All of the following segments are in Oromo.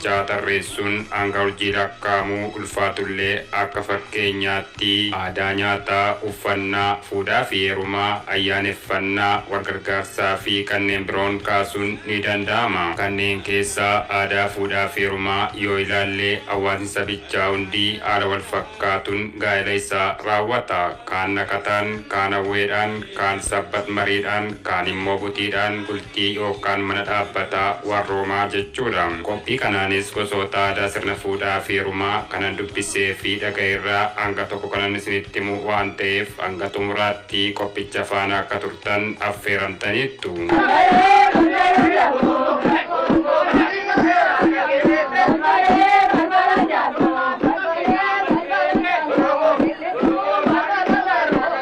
6 tarreessuun hanga urjii lakkaa'amu ulfaatullee akka fakkeenyaatti aadaa nyaataa, uffannaa, fuudhaafi heerumaa, ayyaaneffannaa, walgargaarsaafi kanneen biroon kaasuun ni danda'ama. Kanneen keessaa aadaa fuudhaafi heerumaa yoo ilaalle hawaasni sabichaa hundi haala walfakkaatuun gaa'ela isaa raawwata. Kaan naqataan, kaan hawweedhaan, kaan sabbat mariidhaan, kaanimmoo butiidhaan. Yookaan mana dhaabbataa warroomaa jechuudha. Qophii kanaanis gosoota aadaa sirna fuudhaafi heerumaa kanan dubbiseefi dhaga'erraa hanga tokko kanan isinitti himu waan ta'eef hanga xumuraatti qophicha faana akka turtan affeeramtaniittu.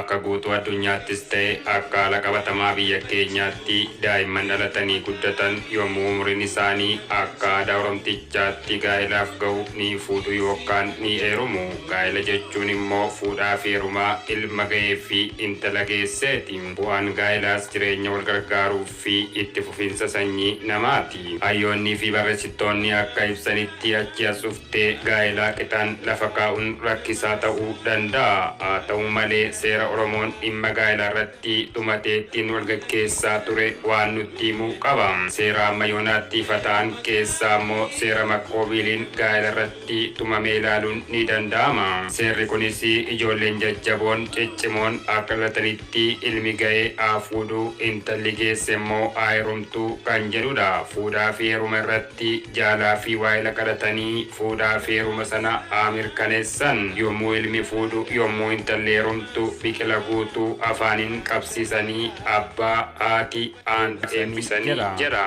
Akka guutuu addunyaattis ta'e akka haala qabatamaa biyya keenyaatti daa'imman dhalatanii guddatan yommuu umuriin isaanii akka aadaa Oromtichaatti gaa'elaaf gahu ni fuudhu yookaan ni heerumu. Gaa'ela jechuun immoo fuudhaafi heerumaa ilma gaheefi intala geesseeti. Bu'aan gaa'elaas jireenya walgargaaruuf. fi itti fufinsa sanyii namaa ti. Hayyoonnii fi barressittoonni akka ibsanitti achii as dhuftee gaa'elaa qixaan lafa kaa'uun rakkisaa ta'uu danda'a. Haa ta'uu malee seera Oromoon dhimma gaa'elaa irratti tumatee ittiin wal gaggeessaa ture waan nutti himu qaba. Seera amma yoonaatti ifa ta'an keessaa ammoo seera Makkooviiliin gaa'ela irratti. irratti tumame ilaaluun ni danda'ama. Seerri kunis ijoolleen jajjaboon, ciccimoon, akka dhalatanitti ilmi ga'ee haa fuudhu, intalli geesse immoo haa heerumtu kan jedhudha. Fuudhaa fi heeruma irratti jaalaa fi waahila kadhatanii fuudhaa fi heeruma sana haa mirkaneessan. Yommuu ilmi fuudhu, yommuu intalli heerumtu biqila guutuu afaaniin qabsiisanii abbaa, haati, aanta eebbisanii jedha.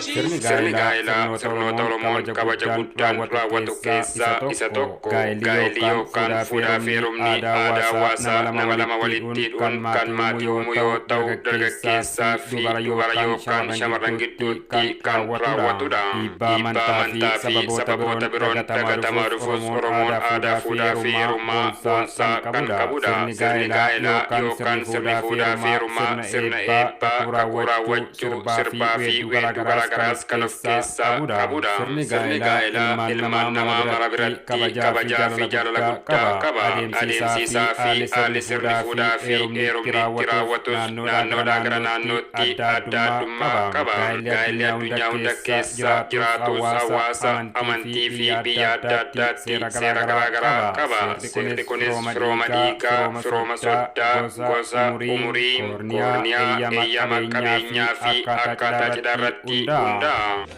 Sirni gaa'elaa sirnoota Oromoon kabaja guddaan raawwatu keessaa isa tokko. Gaa'elli yookaan fuudhaa fi heerumni aadaa hawaasaa nama lama walitti hidhuun kan maatii uumuu yoo ta'u, dargaggeessaa fi dubara yookaan shamarran gidduutti irratti raawwatudha. Dhiibbaa amantaa fi sababoota biroon dagatamaa dhufuus Oromoon aadaa fuudhaa fi heerumaa boonsaa kan qabudha. Sirni gaa'elaa yookaan sirni fuudhaa fi heerumaa sirna eebbaa, kakuu raawwachuu, sirbaa fi weedduu garaa garaas kan of keessaa qabudha. Sirni gaa'elaa ilmaan namaa mara biratti kabajaa fi jaalala guddaa qaba. Adeemsi isaa fi haalli sirni fuudhaa fi heerumni itti raawwatus naannoodhaa gara naannootti adda addummaa qaba. Gaa'elli addunyaa hunda keessa jiraatus hawaasa, amantii fi biyya adda addaatti seera garaa garaa qaba. Seerri kunis firooma dhiigaa, firooma soddaa, gosa, umurii, koorniyaa, eeyyama qabeenyaa fi akkaataa cidhaa irratti hundaa'a.